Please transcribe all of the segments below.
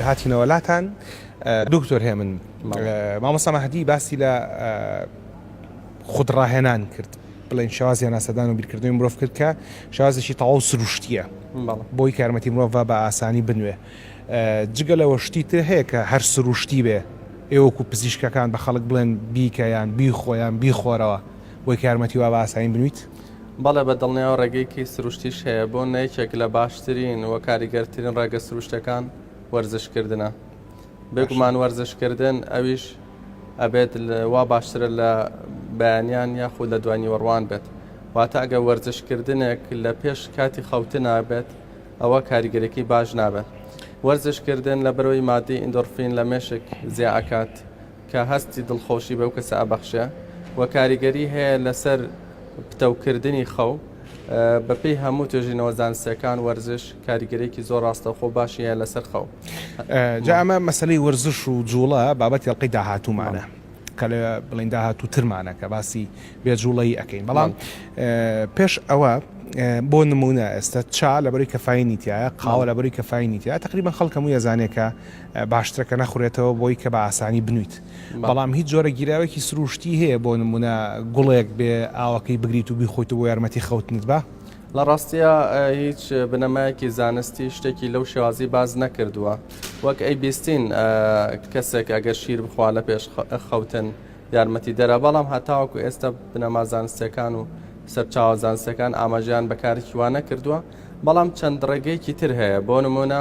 هاتینەوە لاتان دکتۆر هێمن مامۆستا مەهدی باسی لە خودڕاهێنان کرد بڵێن شوازی ناسەدان و بیرکردنی مرۆڤ کرد کە شازێکی تەواو سروشتیە بۆی کارمەتی مرۆڤ بە ئاسانی بنوێ جگە لەوە شتی تر هەیە کە هەر سروشتی بێ ئێوەکو پزیشکەکان بە خەڵک بڵێن بیکەیان بی خۆیان بیخۆرەوە بۆی کارمەتی وا بە ئاسانی بنویت بەڵێ بە دڵنیاوە ڕێگەیەکی سروشتیش هەیە بۆ نە یەکێک لە باشترین و کاریگەرترین ڕێگە سروشتەکان وەرزش کردنە بێگومان وەرزش کردن ئەویش ئەبێت وا باشترە لە بەیانیان یاخود لە دوای نیوەڕوان بێت واتە ئەگە وەرزش کردنێک لە پێش کاتی خەوتن نابێت ئەوە کاریگەرێکی باش نابێت وەرزش کردن لە بەرەوەی مادی ئیندۆرفین لە مێشک زیاکات کە هەستی دڵخۆشی بەو کەسە ئەبەخشێ و کاریگەری هەیە لەسەر پتەوکردنی خەو بەپێی هەموو توێژینەوە زانستەکان وەرزش کاریگەرێکی زۆر ڕاستەوخۆ باشی هەیە لەسەر خەو جا ئەمە مەسلەی وەرزش و جوڵە بابەت یڵقەی داهاتوومانە کە لە بڵین داهاتوو ترمانە کە باسی بێجوڵەی ئەەکەین بەڵام پێش ئەوە بۆ نمونە ئێستا چا لەبەری کەفاینی تایە قاوە لەبەری کەفاینی تیا تقریبا خەڵکەمو یەزانێکە باشترە کە نەخورێتەوە بۆی کە بە ئاسانی بنوویت بەڵام هیچ جۆرە گیراوێکی سرووشتی هەیە بۆ نموونە گوڵێک بێ ئاوەکەی بگریت و بیخۆیت و بۆ یارمەتی خەوتنت بە؟ لە ڕاستیا هیچ بنەمایەکی زانستی شتێکی لەو شێوازی باس نەکردووە وەک ئەی بیستین کەسێک ئەگەر شیر بخوا لە پێش خەوتن یارمەتی دەرە بەڵام هەتاوەکو ئێستا بنەما زانستەکان و سەرچاوە زانستەکان ئاماژیان بەکارێکی وا نەکردووە بەڵام چەند ڕێگەیەکی تر هەیە بۆ نمونە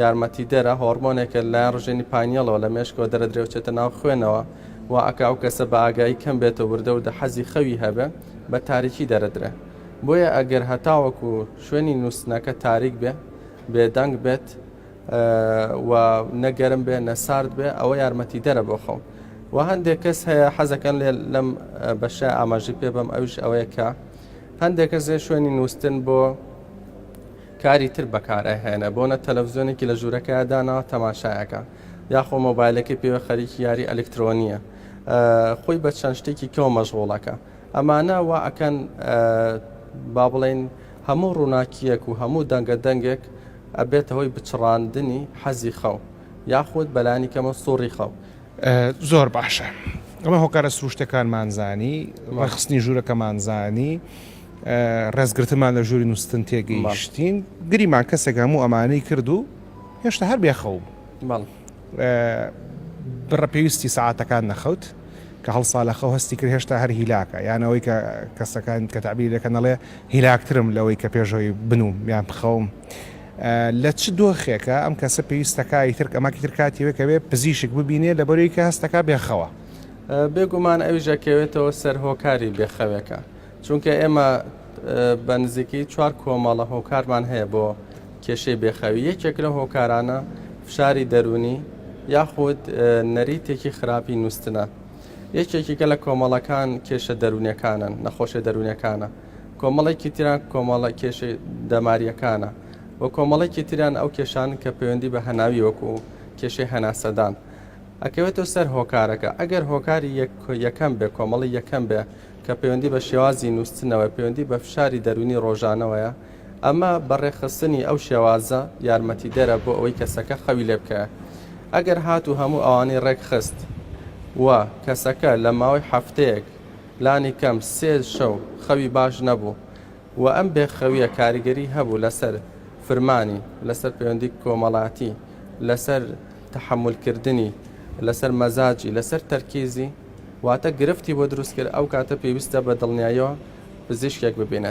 یارمەتیدەرە، هۆڕمۆنێکە لەلایەن ڕژێنی پاینیەڵەوە لە مێشکەوە دەرەدرێوچێتە ناو خوێنەوە، وا ئەکا ئەو کەسە بە ئاگایی کەم بێتە وردە وردە حەزی خەوی هەبێ، بە تاریکی دەرەدرێ. بۆیە ئەگەر هەتاوەکو شوێنی نووستنەکە تاریک بێ، بێدەنگ بێت و نە گەرم بێ نە سارد بێ ئەوە یارمەتیدەرە بۆ خەو. وە هەندێک کەس هەیە حەزەکەن لێ لەم بەشە ئاماژەی پێ بەم ئەویش ئەوەیە کە هەندێک کەس شوێنی نووستن بۆ کاری تر بەکارئە هێنە بۆنە تەلەفزیۆنێکی لە ژورەکەیا داناوە تەماشایەکە یاخۆ مۆبایلەکەی پێوە خەریکی یاری ئەلکترۆنیە خۆی بە چەند شتێکی کەو مەژغۆڵەکە ئەمانە وا ئەکەن با بڵین هەموو ڕووناکیەک و هەموو دەنگە دەنگێک ئەبێتە هۆی بچڕاندنی حەزی خەو یاخود بەلانی کەمە سوڕی خەو زۆر باشە ئەمە هۆکارە سروشتەکانمانزانی ڕخستنی ژوورەکەمانزانی ڕێزگرتنمان لە ژووری نووستن تێگەیشتین، گریمان کەسێک هەموو ئەمانەی کرد و هێشتا هەر بێخەو بوو. بڕە پێویستی سەعاتەکان نەخەوت، کە هەڵسا لە خەو هەستی کرد هێشتا هەر هیلاکە، یان ئەوەی کە کەسەکان کە تەعبیری دەکەن دەڵێ هیلاکترم لەوەی کە پێشەوەی بنووم یان بخەوم. لە چ دۆخێکە ئەم کەسە پێویست دەکا ئیتر ئەمە ئیتر کاتی وایە کە بێ پزیشک ببینێ لەبەر ئەوی کە هەست دەکا بێخەوە؟ بێگومان ئەویش ئەکەوێتەوە سەر هۆکاری بێخەوێکە، چونکە ئێمە بە نزیکەی چوار کۆمەڵە هۆکارمان هەیە بۆ کێشەی بێخەوی یەکێک لە هۆکارانە فشاری دەرونی یاخود نەریتێکی خراپی نووسنە یەکێکیکە لە کۆمەڵەکان کێشە دەرونونەکانن نەخۆشە دەرونونەکانە کۆمەڵێکی تران کۆمەڵە کێشی دەماریەکانە و کۆمەڵێکی تریان ئەو کێشان کە پەیوەندی بە هەناوی وەکو کێشەی هەناسەدان ئەکەوێتەوە سەر هۆکارەکە ئەگەر هۆکاری یەکەم بێ کۆمەڵی یەکەم بێ کە پەیوەندی بە شێوازی نووستنەوەیە، پەیوەندی بە فشاری دەروونی ڕۆژانەوەیە، ئەمە بە ڕێکخستنی ئەو شێوازە یارمەتیدەرە بۆ ئەوەی کەسەکە خەوی لێ بکەوێت. ئەگەر هاتوو هەموو ئەوانەی ڕێکخست و کەسەکە لە ماوەی هەفتەیەک لانی کەم سێ شەو خەوی باش نەبوو و ئەم بێخەوییە کاریگەری هەبوو لەسەر فرمانی، لەسەر پەیوەندی کۆمەڵاتی، لەسەر تەحەمولکردنی، لەسەر مەزاجی، لەسەر تەرکیزی، واتە گرفتی بۆ دروست کرد ئەو کاتە پێویستە بە دڵنیایەوە پزیشکێک ببینێت.